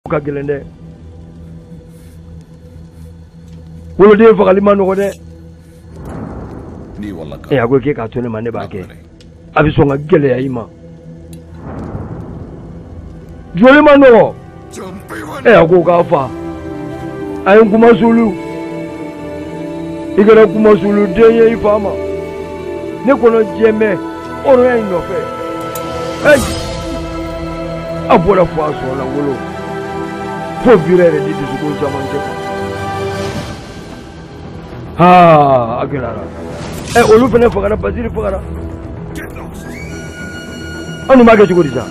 o ka gɛlɛn dɛ woloden fagali ma nɔgɔ dɛ ee a ko k'e k'a to ne ma ne b'a kɛ a bɛ sɔn ka gɛlɛya i ma joli ma nɔgɔ ee a ko k'a fa a ye n kunmasuuli i kɛra kunmasuuli den ye i fa ma ne kɔnɔ jɛmɛ ọ̀rọ̀ ẹ̀ nọfẹ ẹ abọlẹ fọ aṣọ ọlọ wolo fo bira yẹrẹ di dusukun caman jẹ kan haa a gɛlɛyara ɛ olu fana fagara basiri fagara an dun b'a kɛ cogo di sa.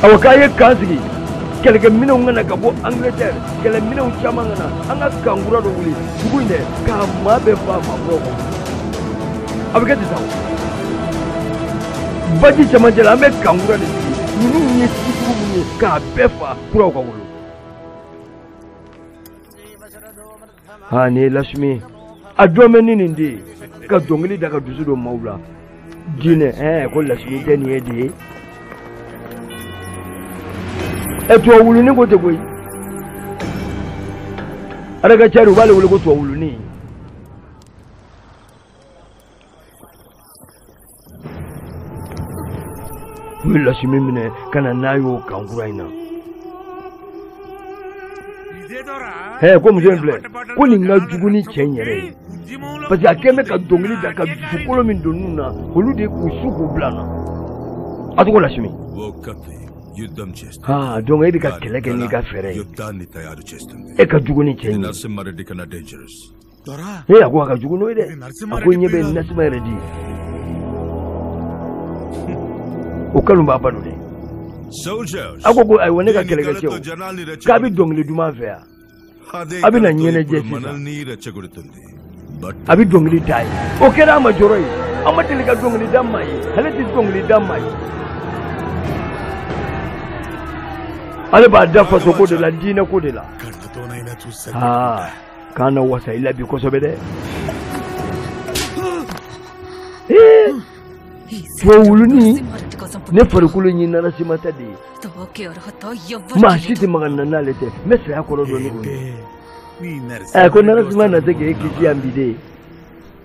awa k'a ye kan sigi kɛlɛkɛminɛnw nana ka bɔ angleterre kɛlɛminɛnw caman nana an ka kan kura dɔ wuli dugu in dɛ k'a maa bɛɛ fa maa kuraw ka wolo a bɛ kɛ ten sa baji cɛmancɛ la an bɛ kan kura de sigi ninnu ye si jugu min ye k'a bɛɛ fa kuraw ka wolo ha nin ye lasmi a jɔn bɛ ni nin de ye ka dɔnkili da ka dusu don maaw la diinɛ ɛɛ ko lasmi tɛ nin ye de ye ɛ tubabu wuluni ko tɛ koyi aragacari u b'ale wele ko tubabu wuluni u ye lasimi minɛ ka na n'a y'o kan kura in na hɛ ko muso in filɛ ko nin ka jugu ni cɛ in yɛrɛ ye parce que a kɛlen bɛ ka dɔnkili da ka dusukolo min don ninnu na olu de k'u su k'u bila an na a tɔgɔ lasimi ha donc e bɛ ka kɛlɛ kɛ n'i ka fɛɛrɛ ye e ka jugu ni cɛ in ye ee a ko a ka jugu n'o ye dɛ a ko ɲɛ bɛ nasuma yɛrɛ di o kanu b'a balo dɛ a ko ayiwa ne ka kɛlɛkɛcɛw k'a bɛ dɔnkili duman fɛ yan a bɛ na ɲɛnajɛ sisan a bɛ dɔnkili da ye o kɛra a ma jɔrɔ ye a ma deli ka dɔnkili da maa ye ale tɛ dɔnkili da maa ye ale b'a da fasoko de la diinɛko de la k'an na wasa i la bi kosɛbɛ dɛ tubabu wuluni ne farikolo nin narasima ta de ye maa si tɛ maga n na n'ale tɛ n bɛ saya kɔrɔ dɔn ni o ye ɛ ko narasima na se k'e kisi yan bi de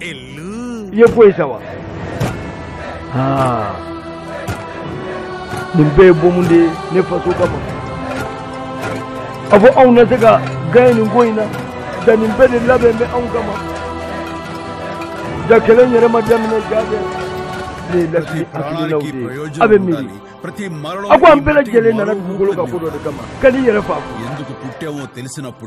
i ye ko ye sa wa aa nin bɛɛ ye bɔmu de ye ne faso kama a fɔ anw na se ka gaɲɛ nin ko in na ja nin bɛɛ de labɛnnen bɛ anw kama ja kɛlɛ yɛrɛ ma daminɛ ja dɛ nin ye lasimi hakilinaw de ye a bɛ miiri a ko an bɛɛ lajɛlen nana dugukolo kan ko dɔ de kama kan'i yɛrɛ fa ko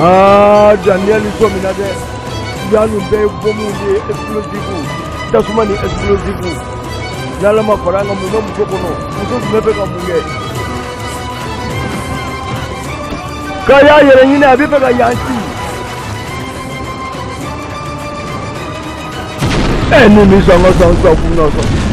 aa daniel sɔmina dɛ yan ninnu bɛɛ ye bɔnmu de ye explosive tasuma ni explosive n'ala ma fara an kan mun bɛ muso kɔnɔ muso tun bɛ fɛ ka mun kɛ k'a y'a yɛrɛ ɲini a bɛ fɛ ka yan ci ɛ ni min sɔn ka sa sakun na sɔn.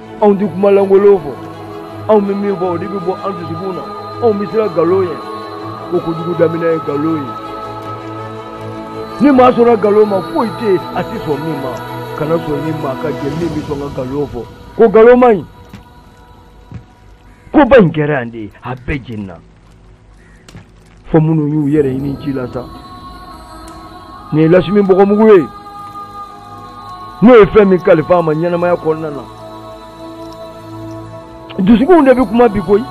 anw tɛ kuma lankolon fɔ anw bɛ min fɔ o de bɛ bɔ an dusukun na anw bɛ siran nkalon ye ko kojugu daminɛ ye nkalon ye ni maa sɔnna nkalon ma foyi tɛ yen a tɛ sɔn min ma kana sɔn ni maa ka jɛ min bɛ sɔn ka nkalon fɔ ko nkalon man ɲi koba in kɛra yan dɛ a bɛɛ jenina fo minnu y'u yɛrɛ ɲini ji la sa nin ye lakshmi bɔgɔmugu ye n'o ye fɛn min kalifa a ma ɲɛnamaya kɔnɔna na dusukunw de bɛ kuma bi koyi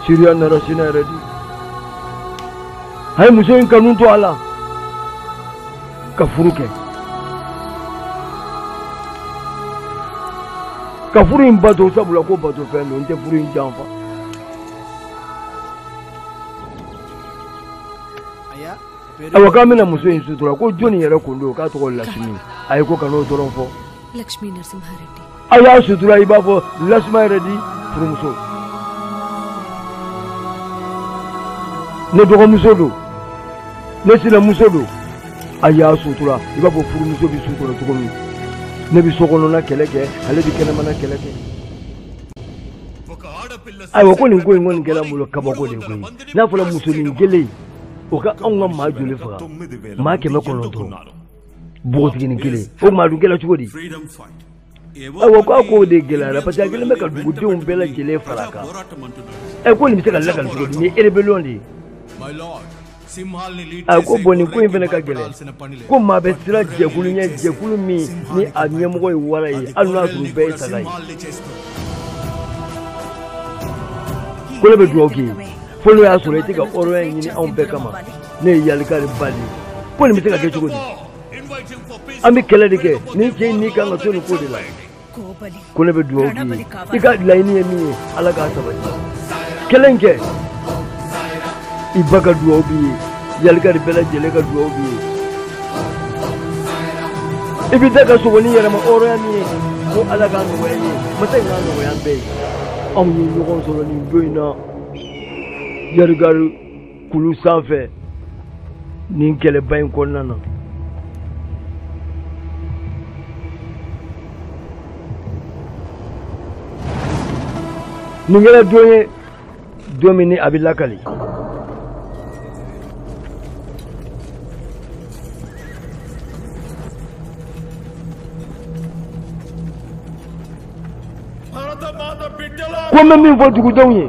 siriya narasimha reddy a ye muso in kanu to a la ka furu kɛ ka furu in bato sabula ko batofɛn don n tɛ furu in janfa awa k'an bɛna muso in sutura ko jɔnni yɛrɛ kun don k'a tɔgɔ lakshmi ayi ko kan'o dɔrɔn fɔ aw y'a sutura i b'a fɔ narasimha reddy furumuso ne dɔgɔmuso don ne sinamuso don a y'a sutura i b'a fɔ furumuso bɛ sutura cogo min ne bɛ so kɔnɔna kɛlɛ kɛ ale bɛ kɛnɛmana kɛlɛ kɛ ayiwa ko nin ko in kɔni kɛra n bolo kabako de koyi n'a fɔra musonin kelen o ka anw ka maa joli faga maa kɛmɛ kɔnɔntɔn npogotiginin kelen o maa dun kɛra cogo di awa ko a k'o de gɛlɛyara parce que a kelen bɛ ka dugudenw bɛɛ lajɛlen fara a kan ɛ ko nin bɛ se ka lakali cogo di nin ye rébellion de ye a ko bon nin ko in fana ka gɛlɛn ko maa bɛ siran jɛkulu ɲɛ jɛkulu min ni a ɲɛmɔgɔ ye wara ye hali n'a sɔrɔ bɛɛ ye saga ye ko ne bɛ dugawu k'i ye fo n'o y'a sɔrɔ i tɛ ka hɔrɔnya in ɲini anw bɛɛ kama ne ye yalika de ba de ye ko nin bɛ se ka kɛ cogo di an bɛ kɛlɛ de kɛ nin cɛ in n'i kan ka to nin ko de la ko ne bɛ dugawu k'i ye i ka laɲini ye min ye ala k'a sabati kɛlɛ in kɛ i ba ka dugawu b'i ye yalika de bɛɛ lajɛlen ka dugawu b'i ye i bɛ taa ka segin ni yɛrɛmahɔrɔnya min ye ko ala k'a nɔgɔya i ye masa in k'a nɔgɔya an bɛɛ ye anw ye ɲɔgɔn sɔrɔ nin don in na yarigari kulu sanfɛ nin kɛlɛba in kɔnɔna na nin kɛra don ye don min ni a bɛ lakali ko n bɛ min fɔ dugudenw ye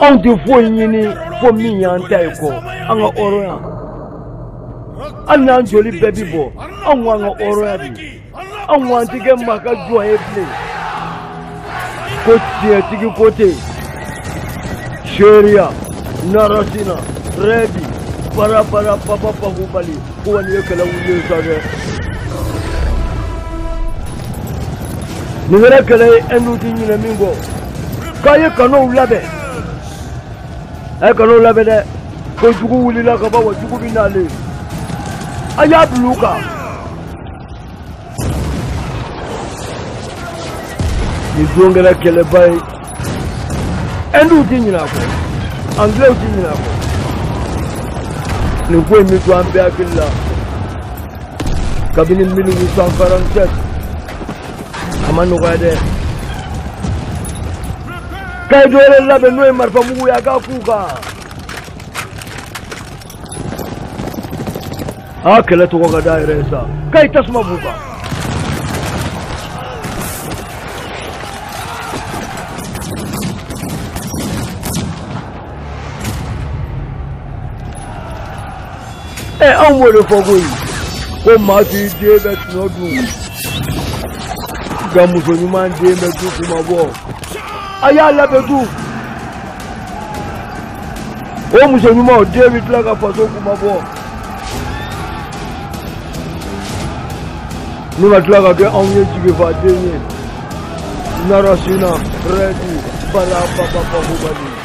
anw tɛ foyi ɲini fo min y'an ta ye ko an ka hɔrɔnya hali n'an joli bɛɛ bi bɔ anw k'an ka hɔrɔnya bi anw k'an ti kɛ maa ka jɔn ye bilen ko tiɲɛtigi ko tɛ seriya narasina rɛdi barabara papa pakubali ko kɔni ye kɛlɛ wuli yen sa dɛ nin kɛra kɛlɛ ye ɛndu ti ɲinɛ min kɔ k'a ye kanow labɛn a ye kanow labɛn dɛ ko jugu wulila ka ban wa jugu bɛ na le a y'a bila u kan nin don kɛra kɛlɛba ye ɛnduw ti ɲinɛ a kɔ angilɛw ti ɲinɛ a kɔ nin ko in bɛ to an bɛɛ hakili la kabini 1847 a ma nɔgɔya dɛ k'a ye dɔ wɛrɛ labɛn n'o ye marifamugu ye a k'a k'u kan a kɛlɛ tɔgɔ ka da yɛrɛ ye sa k'a ye tasuma b'u kan ɛ anw b'o de fɔ koyi ko maa t'i den bɛɛ tɔnɔ dun nka muso ɲuman den bɛ du kunmabɔ a y'a labɛn du o muso ɲuman o den bɛ tila ka faso kunmabɔ ni ka tila ka kɛ anw ye jigifa den ye narasina rɛdi bala papapakubali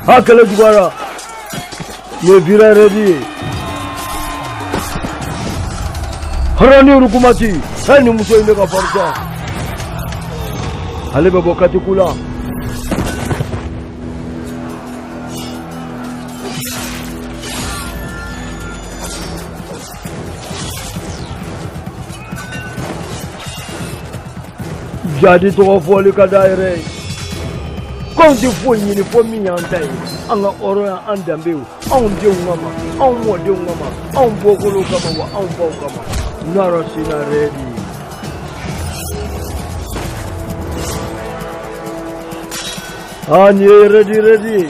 Ha kɛlɛ juguyara nin ye vira rɛdi harani rukumati hɛ nin muso in ne ka fari sa ale bɛ bɔ katiku la jadi tɔgɔ fɔli ka d'a yɛrɛ ye k'anw tɛ foyi ɲini fo min y'an ta ye an ka hɔrɔnya an danbew anw denw kama anw mɔdenw kama anw bɔkolow kama wa anw baw kama nɔrɔ sina rɛdi an ye rɛdi rɛdi ye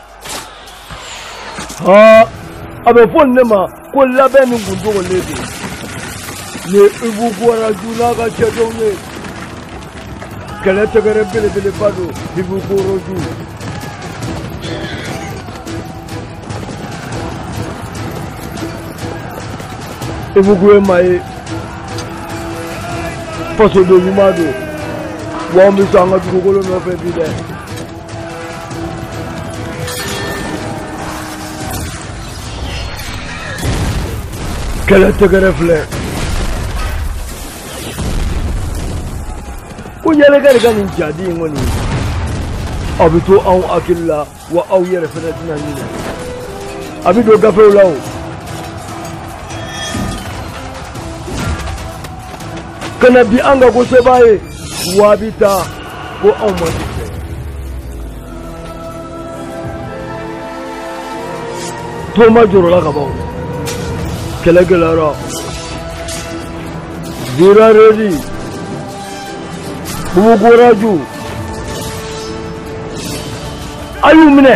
a bɛ fɔ ne ma ko labɛn ni kun dogolen don ni ibu bɔra joona ka cɛ dɔw ye kɛlɛ tɛgɛrɛ belebeleba don ibu koro ju ibugu ye maa ye fasoden ɲuman don wa an bɛ sa an ka dugukolo nɔfɛ bi dɛ kɛlɛ tɛgɛrɛ filɛ ko yɛlɛkɛ de ka nin jadi in kɔni a bɛ to anw hakili la wa aw yɛrɛ fana tɛna ɲinɛ a bɛ don gafew la o ka na bi an ka ko sebaa ye wabi ta ko anw ma se tɛ to maa jɔrɔla ka ban kɛlɛ gɛlɛyara zira redi bubugoraju a y'u minɛ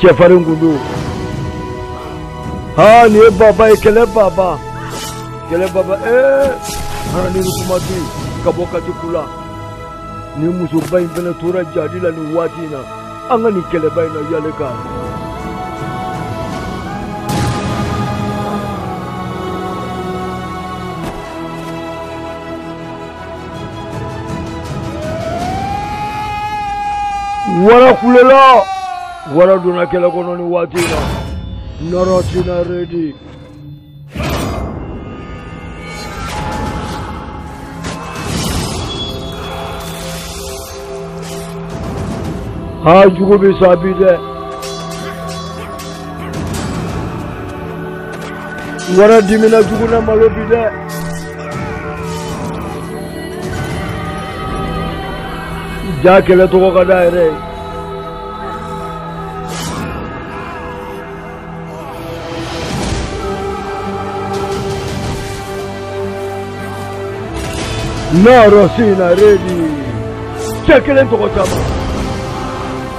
cɛfarin kun don aa nin ye baba ye kɛlɛ baba kɛlɛ baba ee harani rukumati ka bɔ kati ku la nin musoba in fana tora jadi la nin waati in na an ka nin kɛlɛba in na yale kan wara kulela wara donna kɛlɛ kɔnɔ ni waati in na nɔrɔ tina redi haa jugu bɛ sa bi dɛ Wara dimina jugu na malo bi dɛ cɛ kelen tɔgɔ ka d'a yɛrɛ ye Narasimha Reddy cɛ kelen tɔgɔ caman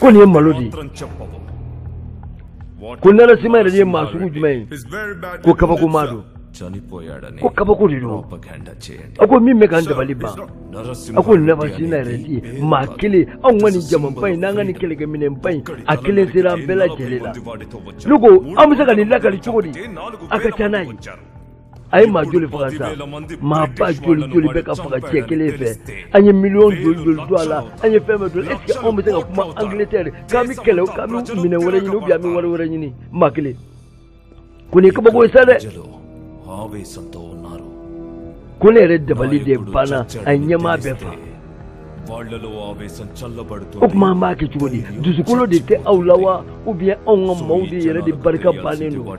ko nin ye malo de ye ko Narasimha Reddy ye maa sugu jumɛn ye ko kabakomaa don ko kabako de don a ko min bɛ k'an dabali ban a ko Narasimha Reddy maa kelen anw ka nin jamaba in n'an ka nin kɛlɛkɛminɛnba in a kelen sera an bɛɛ lajɛlen la ne ko an bɛ se ka nin lakali cogo di a ka ca n'a ye a ye maa joli faga sa maa ba joli joli bɛ ka faga cɛ kelen fɛ an ye miliyɔn joli joli don a la an ye fɛn bɛɛ don est ce que anw bɛ se ka kuma angleterre k'an bɛ kɛlɛ k'an bɛ minɛn wɛrɛ ɲini ou bien an bɛ wari wɛrɛ ɲini maa kelen ko nin ye kabako ye sa dɛ ko ne yɛrɛ dabali de banna a ye ɲɛmaa bɛɛ fa o tuma an b'a kɛ cogo di dusukolo de tɛ aw la wa ou bien anw ka maaw de yɛrɛ de barika bannen don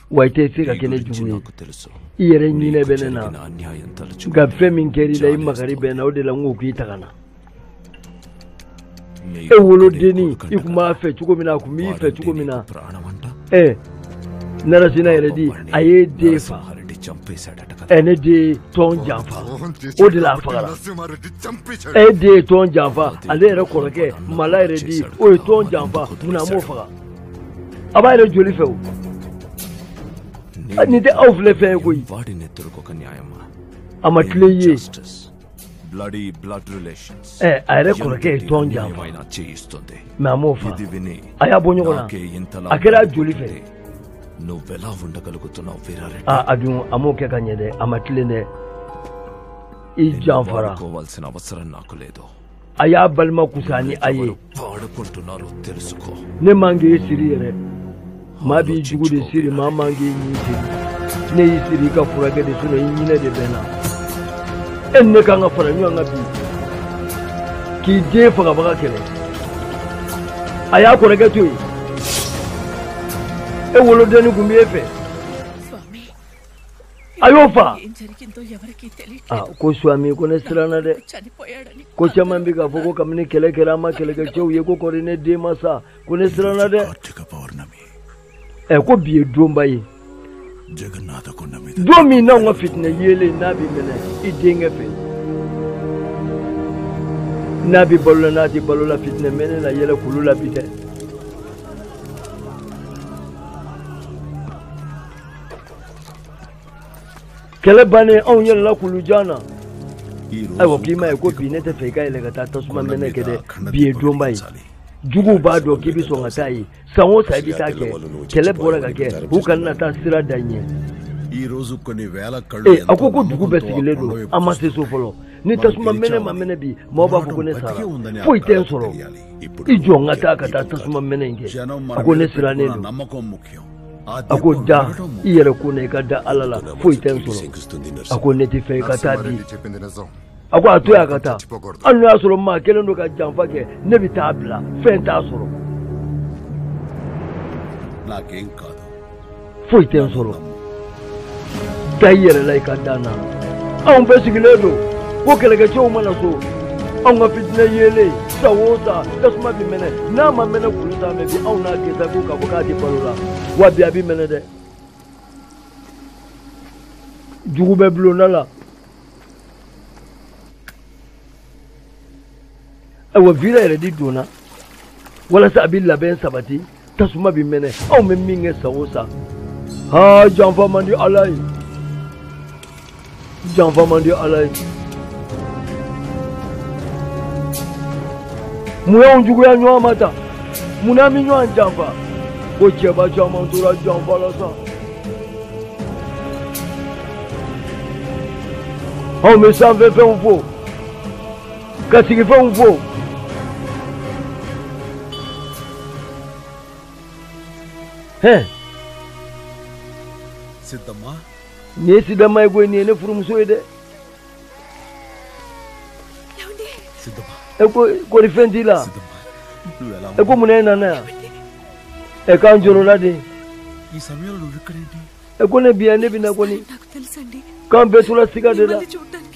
wa i tɛ se ka kɛ ne jugu ye i yɛrɛ ɲinɛ bɛ ne na nka fɛn min kɛra i la i makari bɛ n na o de la n ko k'i ta ka na e wolodenni i tun b'a fɛ cogo min na a tun b'i fɛ cogo min na ɛ Narasimha Reddy a y'e den fa ɛ ne den ye tɔn janfa o de la a fagara e den ye tɔn janfa ale yɛrɛ kɔrɔkɛ Mala Reddy o ye tɔn janfa munna a m'o faga a b'a yɛrɛ joli fɛ o nin tɛ aw filɛ fɛn ye koyi a ma tilen ye bloody blood relations. Eh, a yɛrɛ kɔrɔkɛ ye tɔn janfa mais a m'o fa a y'a bɔ ɲɔgɔn na a kɛra joli fɛ a a dun a m'o kɛ ka ɲɛ dɛ a ma tilen dɛ i janfara a y'a balima kusa ni a ye ne man k'i siri yɛrɛ maa b'i jugu de siri maa man k'i ɲin siri ne y'i siri i ka furakɛ de sinon i ɲinɛ de bɛ n na e ni ne kan ka fara ɲɔgɔn kan bi k'i den fagabaga kɛlɛ a y'a kɔrɔkɛ to yen e wolodenni tun b'e fɛ a y'o fɔ ko suami ko ne siranna dɛ ko caman bɛ k'a fɔ ko kabini kɛlɛ kɛra an ma kɛlɛkɛcɛw ye ko kɔri ne den ma sa ko ne siranna dɛ ɛ ko bi ye donba ye don min n'anw ka fitinɛ yeelen n'a bɛ mɛnɛ i denkɛ fɛ n'a bɛ balo la n'a tɛ balo la fitinɛ mɛnɛ na yɛlɛ kulu la bi dɛ kɛlɛ bannen anw yɛlɛla kulu jan na ayiwa k'i m'a ye ko bi ne tɛ fɛ i ka yɛlɛ ka taa tasuma mɛnɛ kɛ dɛ bi ye donba ye juguw b'a dɔn k'i bɛ sɔn ka taa yen san o san i bɛ taa kɛ kɛlɛ bɔra ka kɛ u kana na taa sira da ɲɛ ee a ko ko dugu bɛɛ sigilen don an ma se so fɔlɔ ni tasuma mɛnɛ ma mɛnɛ bi maa b'a fɔ ko ne sara foyi tɛ n sɔrɔ i jɔ n ka taa ka taa tasuma mɛnɛ in kɛ a ko ne sirannen don a ko da i yɛrɛ ko n'i ka da ala la foyi tɛ n sɔrɔ a ko ne tɛ fɛ i ka taa bi a ko a to y'a ka taa hali n'o y'a sɔrɔ maa kelen don ka janfa kɛ ne bɛ taa bila fɛn t'a sɔrɔ foyi tɛ n sɔrɔ da i yɛrɛ la i ka da n na anw bɛɛ sigilen don ko kɛlɛkɛcɛw ma na so anw ka fitinɛ yeelen san o san tasuma bɛ mɛnɛ n'a ma mɛnɛ kulu sanfɛ bi anw n'a kɛ sa ko k'a fɔ k'a tɛ balo la wa bi a bɛ mɛnɛ dɛ jugu bɛ bulonda la ayiwa vira yɛrɛ de donna walasa a bɛ labɛn sabati tasuma bɛ mɛnɛ anw bɛ min kɛ san o san haa janfa man di ala ye janfa man di ala ye mun y'anw juguya ɲɔgɔn ma tan mun n'an bɛ ɲɔgɔn janfa ko cɛba caman tora janfa la sa anw bɛ sanfɛfɛnw fo ka sigifɛnw fo hɛn sidama nin ye sidama ye koyi nin ye ne furumuso ye dɛ sidama e ko kɔri fɛn t'i la sidama e ko mun na e nana yan ɛ k'an jɔrɔla de i samayamlo ikkadenti ɛ ko ne bɛ yan ne bɛ na kɔni k'an bɛɛ tora siga de la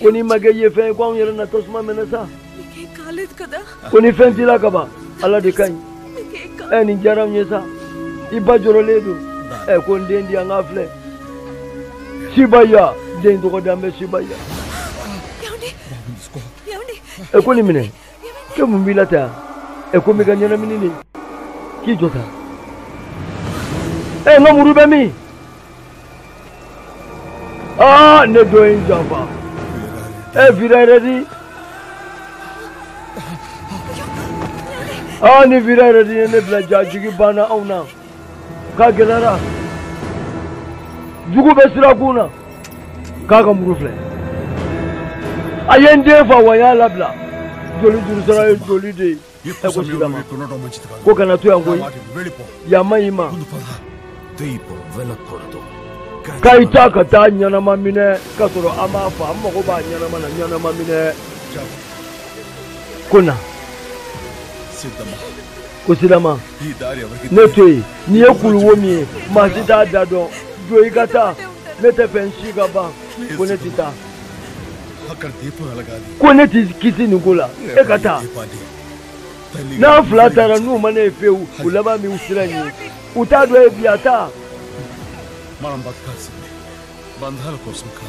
ko n'i ma kɛ ye fɛn ye ko anw yɛrɛ na tasuma mɛnɛ sa ko ni fɛn t'i la ka ban ala de ka ɲi ɛ nin diyara n ye sa i ba jɔrɔlen don ɛ ko n den di an k'a filɛ sibaya den tɔgɔ dalen bɛ sibaya ɛ ko nin minɛ kɛ mun b'i la tan ɛ ko n bɛ ka ɲɛnamini de k'i jɔ tan ɛ n ka muru bɛ min aa ne dɔ ye n janfa ɛ vira redi aa ni vira redi ye ne bila ja jigi banna anw na. k'a gɛlɛyara jugu bɛ sirakun na k'a ka muru filɛ a ye n den fa wa y'a labila joli juru sara ye joli de ye ɛ ko sidama ko kana to yan koyi yan man ɲi i ma k'a ye taa ka taa ɲɛnama minɛ k'a sɔrɔ a m'a fa an mago b'a ɲɛnama na ɲɛnama minɛ ko na ko sidama ne to yen n'i ye kuluwo min ye maa si t'a da dɔn don i ka taa ne t'a fɛ n si ka ban ko ne tɛ taa ko ne t'i kisi nin ko la e ka taa n'an fila taara n'u ma ne ye fewu u laban bɛ wo sira in ye u t'a dɔn e bi a taa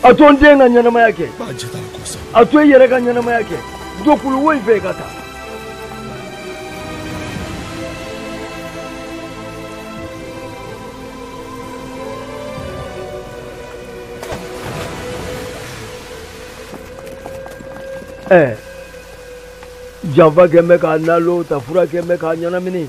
a to n den ka ɲɛnamaya kɛ a to i yɛrɛ ka ɲɛnamaya kɛ don kulu wo in fɛ i ka taa ɛɛ janfa kɛ n bɛ k'a nalon ta fura kɛ n bɛ k'a ɲɛnamini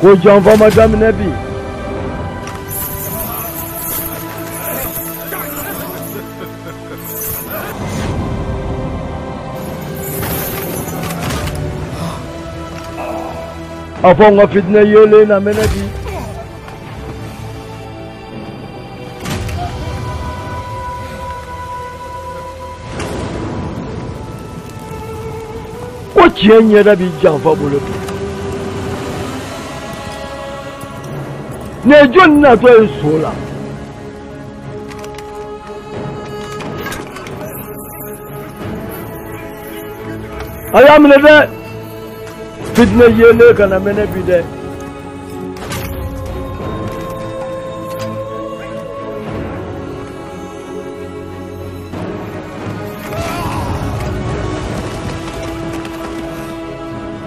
ko janfa ma daminɛ bi a fɔ n ka fitinɛ yeelen na mɛnɛ bi ko tiɲɛ ɲɛda bɛ janfa bolo bi nin ye jɔni natɔ ye so la a y'a minɛ dɛ fitinɛ yeelen kana mɛnɛ bi dɛ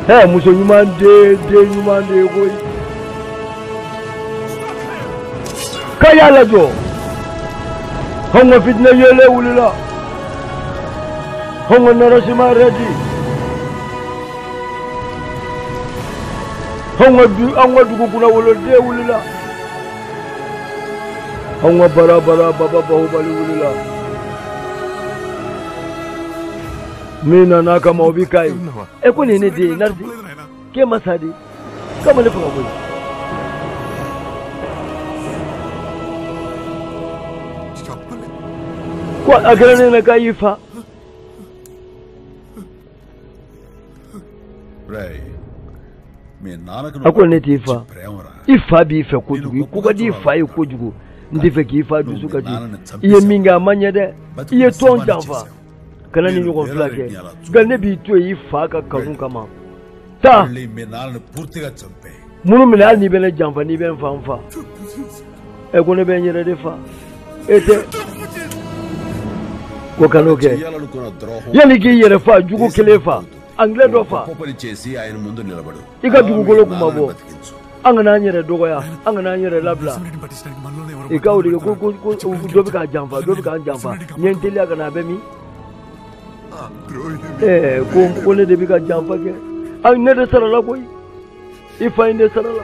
hɛ muso ɲuman den den ɲuman de ye koyi k'a y'a lajɔ anw ka fitinɛ yelen wulila anw ka Narasimha Reddy anw ka du anw ka dugu kunnawoloden wulila anw ka bara bara baba bahubali wulila min nana kama o bi ka ye e ko nin ye ne den ye Narasi k'e ma sa dɛ k'a ma ne faga koyi ko a kɛra ne na k'a y'i fa a ko ne t'i fa i fa b'i fɛ kojugu i ko ka di i fa ye kojugu n tɛ fɛ k'i fa dusukasi i ye min kɛ a ma ɲɛ dɛ i ye tɔn janfa kana nin ɲɔgɔn fila kɛ nka ne b'i to yen i fa ka kanu kama taa muru minɛ hali n'i bɛ ne janfa n'i bɛ n fa n fa ɛ ko ne bɛ n yɛrɛ de fa e tɛ ko kan'o kɛ yanni k'i yɛrɛ fa jugu kelen fa angilɛ dɔ fa i ka dugukolo kunmabɔ an kana an yɛrɛ dɔgɔya an kana an yɛrɛ labila i ka wuli ko ko ko dɔ bɛ k'an janfa dɔ bɛ k'an janfa n ye n teliya ka na a bɛ min ɛɛ ko ko ne de bɛ ka janfa kɛ ayi ne de sarala koyi i fa in de sarala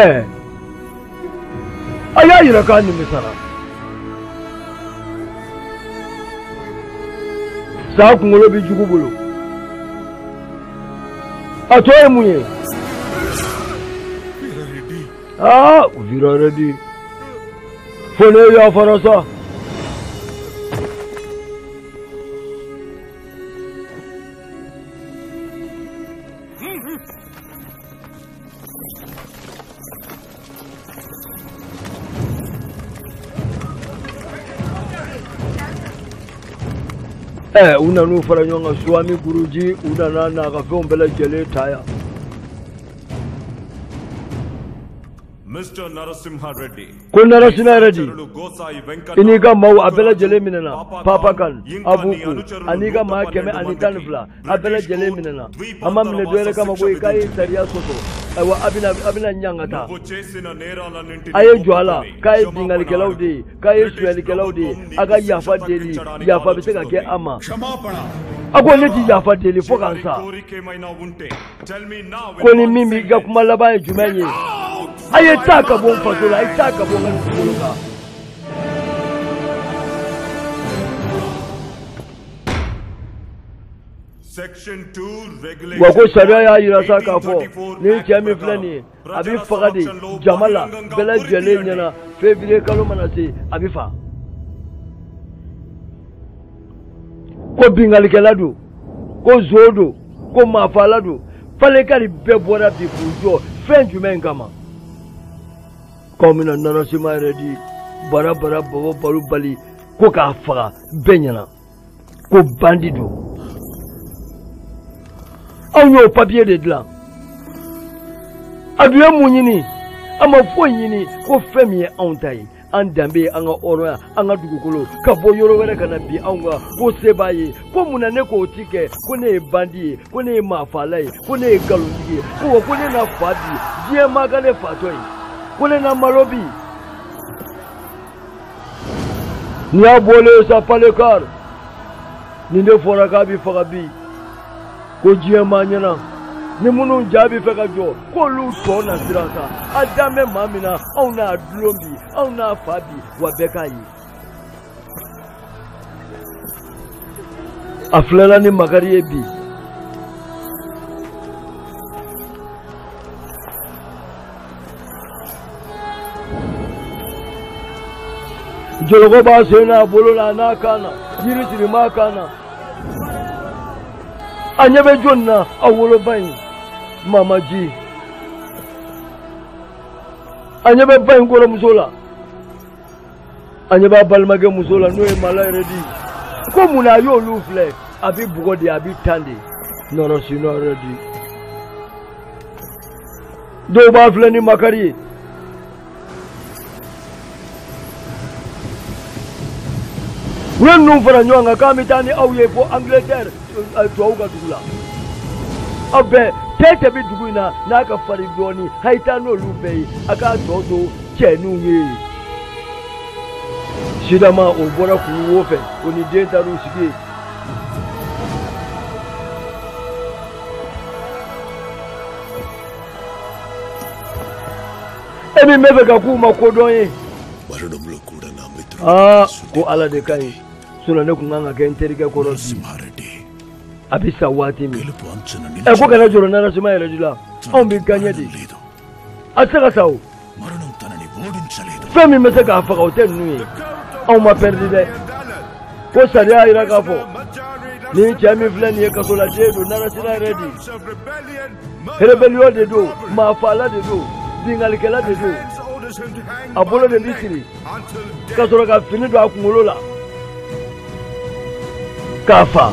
ɛɛ a y'a yira k'a nimisara sa kunkolo bɛ jugu bolo a tɔ ye mun ye. aa Veera Reddy fo ne yafara sa ɛ u nan'u fara ɲɔgɔn kan Swami Guruji u nana n'a ka fɛnw bɛɛ lajɛlen ta yan Mr. Narasimha Reddy. Ko Narasimha Reddy. I n'i ka maaw a bɛɛ lajɛlen minɛna Papa Khan Avuku an'i ka maa kɛmɛ ani tan ni fila a bɛɛ lajɛlen minɛna a ma minɛ dɔwɛrɛ kama ko i k'a ye sariya sɔsɔ ayiwa a bɛna a bɛna ɲangata a ye jɔ a la k'a ye binkannikɛlaw de ye k'a ye sonyalikɛlaw de ye a ka yafa deli yafa bɛ se ka kɛ a ma a ko ne ti yafa deli fo ka n sa ko ni min b'i ka kuma laban ye jumɛn ye a ye taa ka bɔ n faso la a ye taa ka bɔ n ka dugukolo kan wa ko sariya y'a jira sa k'a fɔ nin cɛ min filɛ nin ye a bɛ faga de jama la bɛɛ lajɛlen ɲɛna fevriye kalo mana se a bɛ faga ko binkannikɛla don ko nson don ko maafala don palekari bɛɛ bɔra bi k'u jɔ fɛn jumɛn kama k'o minɛ narasima redi bara bara bɔbɔ balo bali ko k'a faga bɛɛ ɲɛna ko bandi don anw y'o papiye de dilan a dun ye mun ɲini a ma foyi ɲini ko fɛn min ye anw ta ye an danbe ye an ka hɔrɔnya an ka dugukolo ka bɔ yɔrɔ wɛrɛ ka na bin anw kan ko se b'a ye ko mun na ne k'o ti kɛ ko ne ye bandi ye ko ne ye maafala ye ko ne ye nkalontigi ye ko wa ko ne na fa bi diɲɛ maa ka ne fatɔ ye ko ne na malo bi n'i y'a bɔlen ye sa palekar nin de fɔra k'a bɛ faga bi ko diɲɛ maa ɲɛna ni minnu ja bɛ fɛ ka jɔ k'olu tɔ na siran sa a dalen bɛ maa min na anw n'a dulon bi anw n'a fa bi wa bɛɛ k'a ye a filɛla ni makari ye bi jɔlɔkɔ b'a sen n'a bolo la an'a kan na yiri sirilen b'a kan na a ɲɛ bɛ jɔn na a woloba in mamaji a ɲɛ bɛ ba in kɔrɔmuso la a ɲɛ b'a balimakɛ muso la n'o ye mala redi ko mun na a y'olu filɛ a bɛ bugɔ de a bɛ tan de narasima redi dɔw b'a filɛ ni makari ye u ye ninnu fara ɲɔgɔn kan k'an bɛ taa ni aw ye fo angilɛtɛri tubabu ka dugu la aw bɛɛ cɛ o cɛ bɛ dugu in na n'a ka farin dɔɔnin a ye taa n'olu bɛɛ ye a k'a tɔ to cɛ ninnu ye sidama o bɔra kulu wo fɛ o ni den taar'u sigi yen e min bɛ fɛ ka kuma kodɔn ye aa ko ala de ka ɲi sinɔn ne tun ka kan ka kɛ n terikɛ kɔrɔ bi a bɛ sa waati min ɛ ko kana jɔrɔ narasima redi la anw bɛ gaɲɛ de a tɛ se ka sa o fɛn min bɛ se k'a faga o tɛ ninnu ye anw ma pɛridi dɛ ko sariya jira k'a fɔ nin cɛ min filɛ nin ye kasoladen don narasimha reddy rebellion de don maafaala de don binkalikɛla de don a bolo de bɛ siri ka sɔrɔ ka fini don a kunkolo la k'a fa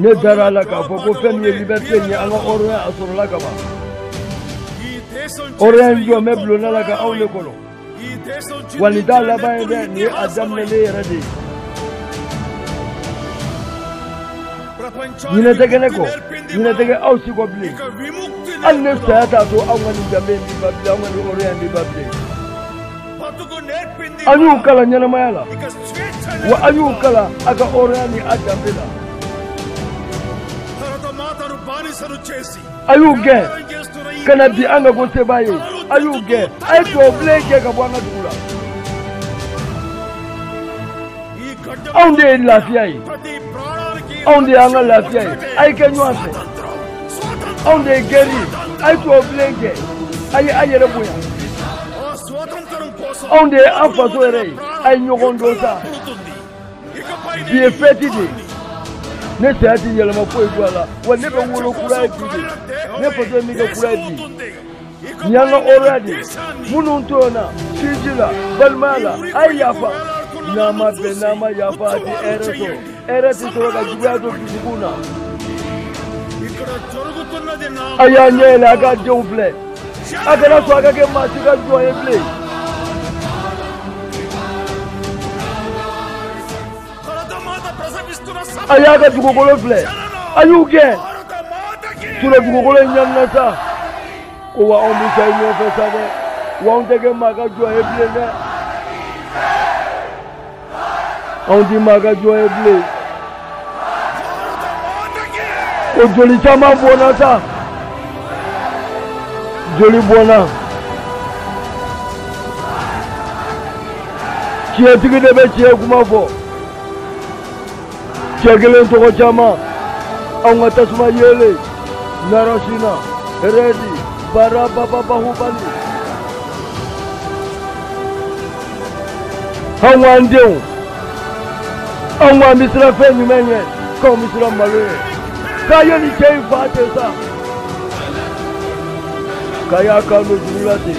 ne dara a la k'a fɔ ko fɛn min ye liberté in ye an ka hɔrɔnya a sɔrɔla ka ban hɔrɔnya in jɔlen bɛ bulonna la ka anw de kɔnɔ wa nin t'a laban ye dɛ nin ye a daminɛlen yɛrɛ de ye ɲinɛ tɛ kɛ ne kɔ ɲinɛ tɛ kɛ aw si kɔ bilen hali ne saya t'a to anw ka nin danbe in bi ban bilen anw ka nin hɔrɔnya in bi ban bilen a y'u kalan ɲɛnamaya la wa a y'u kalan a ka hɔrɔnya ni a danbe la a y'u gɛn ka na bi an ka ko sebaa ye a y'u gɛn a ye tubabu bilen gɛn ka bɔ an ka dugu la anw de ye lafiya ye anw de y'an ka lafiya ye a ye kɛ ɲɔgɔn fɛ anw de ye gɛri ye a ye tubabu bilen gɛn a ye a yɛrɛ bonya anw de ye an faso yɛrɛ ye a ye ɲɔgɔn dɔn sa bi ye fɛti de ye ne saya ti yɛlɛma foyi don a la wa ne bɛ wolo kura ye bi de ne faso ye min kɛ kura ye bi y'an ka hɔrɔnya de ye minnu tɔɲɔna sinji la balimaya la a ye yafa n'a ma bɛn n'a ma yafa a tɛ hɛrɛ sɔrɔ hɛrɛ tɛ sɔrɔ ka juguya don dusukun na a y'a ɲɛ yɛlɛ a k'a denw filɛ a kana sɔn a ka kɛ maa si ka jɔn ye bilen a y'a ka dugukolo filɛ a y'u gɛn sinon dugukolo in ɲanina sa ko wa anw bɛ sa i nɔfɛ sa dɛ wa anw tɛ kɛ maa ka jɔn ye bilen dɛ anw tɛ maa ka jɔn ye bilen o joli caman bɔnna sa joli bɔnna. tiɲɛtigi de bɛ tiɲɛ kuma fɔ cɛ kelen tɔgɔ caman anw ka tasuma yeelen narasimha reddy bara baba bahubali anw k'an denw anw k'an bɛ siran fɛn jumɛn ɲɛ k'anw bɛ siran malo ɲɛ k'a ye nin cɛ in fa ten sa k'a y'a kan don juru la ten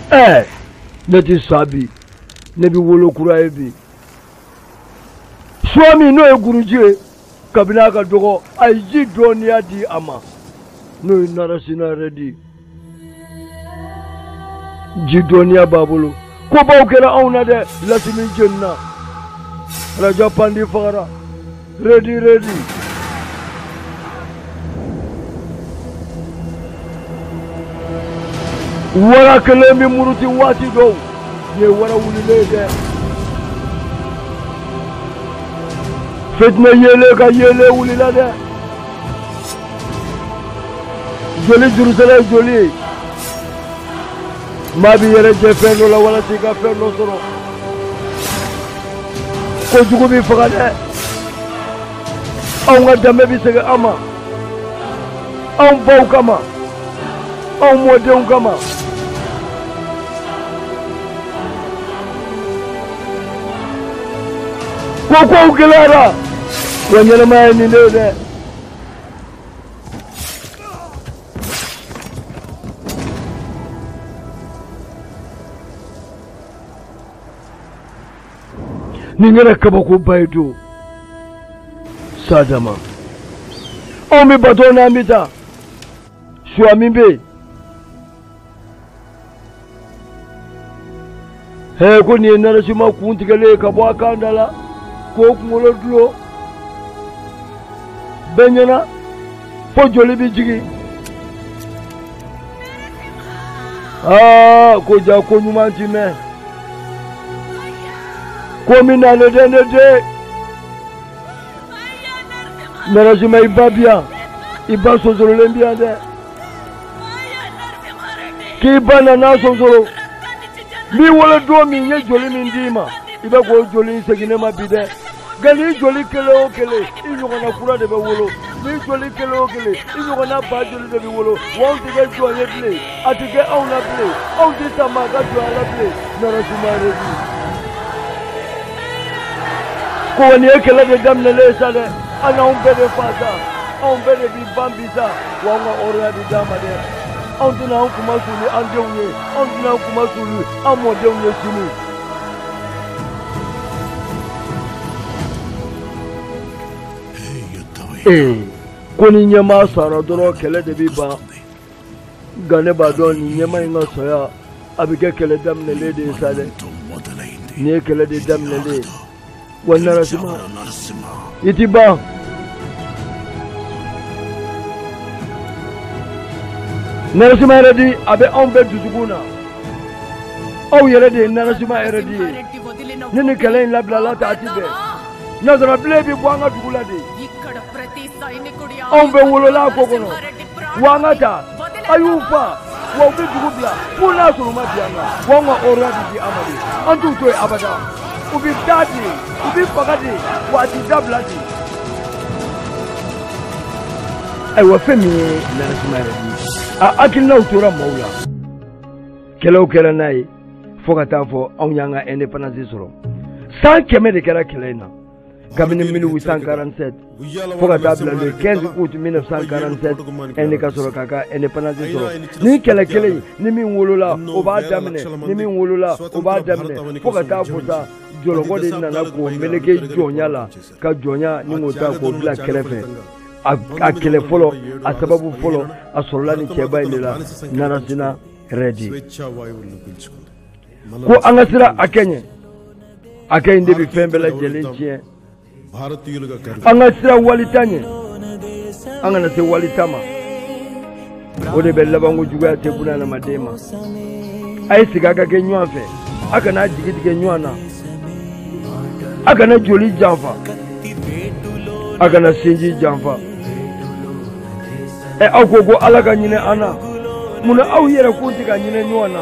ɛ ne ti sa bi ne bi wolo kura ye bi suwa min n'o ye guruji ye kabini a ka dɔgɔ a ye ji dɔnniya di a ma n'o ye narasima redi ji dɔnniya b'a bolo kobaw kɛra anw na dɛ lasimi jenina raja pandi fagara Redi, redi. Wara kelen bɛ muruti waati dɔw ye wara wulilen dɛ. Fitinɛ yeelen ka yeelen wulila dɛ. Joli jurusara ye joli ye. maa b'i yɛrɛ jɛ fɛn dɔ la walasa i ka fɛn dɔ sɔrɔ ko jugu b'i faga dɛ anw ka danbe bɛ segin an ma anw baw kama anw mɔdenw kama ko kow gɛlɛyara wa ɲɛnamaya ye nin de ye dɛ nin kɛra kabakoba ye don sa dama anw bɛ bato n'an bɛ taa suya min bɛ yen hee ko nin ye narasima kun tigɛlen ye ka bɔ a kan da la k'o kunkolo dulon bɛɛ ɲɛna fo joli bɛ jigin aa ko jaa ko ɲuman ti mɛn ko min na ne den ne den narasima i ba bi yan i ba sonsorolen bi yan dɛ k'i ba nana sonsoro n b'i wolo don min n ye joli min d'i ma i bɛ k'o joli in segin ne ma bi dɛ nka n'i joli kelen o kelen i ɲɔgɔnna kura de bɛ wolo n'i joli kelen o kelen i ɲɔgɔnna ba joli de bɛ wolo wa anw tɛ kɛ jɔn ye bilen a tɛ kɛ anw na bilen anw tɛ sa maa ka jɔnya la bilen narasima redi ko wa nin ye kɛlɛ de daminɛlen ye sa dɛ a' na anw bɛɛ de faa sa anw bɛɛ de b'i ban bi sa wa an ka hɔrɔnya de d'an ma dɛ anw tɛna an kunmasuli an denw ye anw tɛna an kunmasuli an mɔdenw ye sini ee ko ni ɲɛmaa sara dɔrɔn kɛlɛ de bɛ ban nka ne b'a dɔn nin ɲɛmaa in ka saya a bɛ kɛ kɛlɛ daminɛlen de ye sa dɛ nin ye kɛlɛ de daminɛlen ye wa narasima i ti ban narasima rɛdi a bɛ anw bɛɛ dusukun na aw yɛrɛ de ye narasima rɛdi ye ni nin kɛlɛ in labilala ta a ti bɛn nazara bilen bɛ bɔ an ka dugu la de anw bɛɛ wolola a ko kɔnɔ wa an ka ta a y'u fa wa u bɛ dugu bila fo n'a sɔrɔ u ma bi an na wa an ka hɔrɔnya bɛ di an ma de an t'u to yen abada u bɛ taa de u bɛ faga de wa a ti dabila de. ayiwa fɛn min ye narasima rɛdi a hakilinaw tora maaw la kɛlɛw kɛra n'a ye fo ka taa fo anw y'an ka indépendance sɔrɔ san kɛmɛ de kɛra kɛlɛ in na kabini 1847 fo ka taa bila le 15 août 1947 Inde ka sɔrɔ k'a ka indépendance sɔrɔ ni kɛlɛ kelen in ni min wolola o b'a daminɛ ni min wolola o b'a daminɛ fo ka taa fo sa jɔlɔkɔ de nana k'o meleke jɔnya la ka jɔnya ni k'o ta k'o bila kɛrɛfɛ a kɛlɛ fɔlɔ a sababu fɔlɔ a sɔrɔla ni cɛba in de la narasina rɛdi ko an ka siran hakɛ ɲɛ hakɛ in de bɛ fɛn bɛɛ lajɛlen tiɲɛ an ka siran wali ta ɲɛ an kana se wali ta ma o de bɛ labanko juguya tɛ buna adamaden ma a ye sigi a ka kɛ ɲɔgɔn fɛ a kana jigi tigɛ ɲɔgɔn na a kana joli janfa a kana sinji janfa ɛ aw ko ko ala ka hinɛ an na mun na aw yɛrɛ kun tɛ ka hinɛ ɲɔgɔn na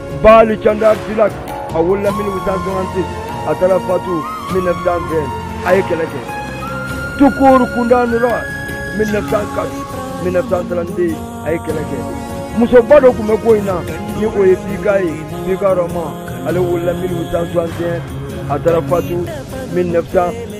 Bali Canda Tilak a wolola 1866 a taara fatu 1920 a ye kɛlɛ kɛ Tukur Kunda Nura 1904 1932 a ye kɛlɛ kɛ musoba dɔ tun bɛ ko in na ni o ye Bika ye Bika Rɔma ale wolola 1861 a taara fatu 1900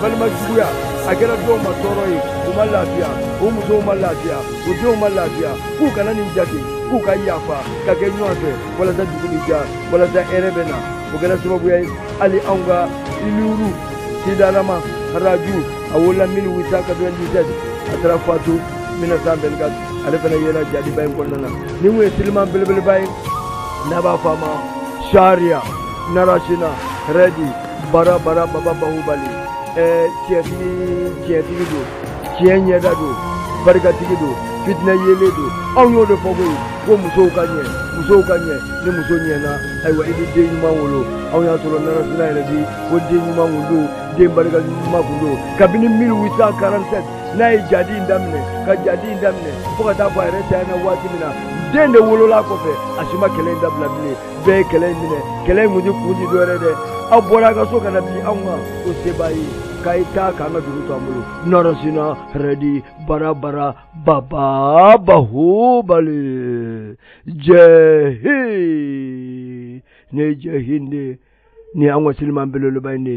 balima juguya a kɛra dɔw ma tɔɔrɔ ye u ma lafiya u musow ma lafiya u denw ma lafiya k'u kana nin jate k'u ka yafa ka kɛ ɲɔgɔn fɛ walasa dugu bɛ diya walasa hɛrɛ bɛ na o kɛra sababuya ye hali anw ka iluru sidarama raju a wolola 1897 a taara fatu 1924 ale fana yera jadiba in kɔnɔna na ni o ye siliman belebeleba ye n'a b'a fɔ a ma sariya narasina rɛdi bara bara baba bahubali ɛɛ tiɲɛtigi tiɲɛtigi don tiɲɛ ɲɛda don barikatigi don fitinɛ yeelen don anw y'o de fɔ koyi ko musow ka ɲɛ musow ka ɲɛ ni muso ɲɛna ayiwa i bɛ den ɲuman wolo anw y'a sɔrɔ narasina rɛdi ko den ɲuman kun don den barikama kun don kabini 1847 n'a ye jadi in daminɛ ka jadi in daminɛ fo ka taa fo a yɛrɛ tanyana waati min na den de wolola kɔfɛ a si ma kɛlɛ in dabila bilen bɛɛ ye kɛlɛ in minɛ kɛlɛ in kun ti kun ti dɔ wɛrɛ dɛ aw bɔra a ka so ka na bin anw kan o se b'a ye k'a ye taa k'an ka dugu to an bolo narasimha reddy bara bara baba bahubali jai hind jai hind ni an ka siliman belebeleba in de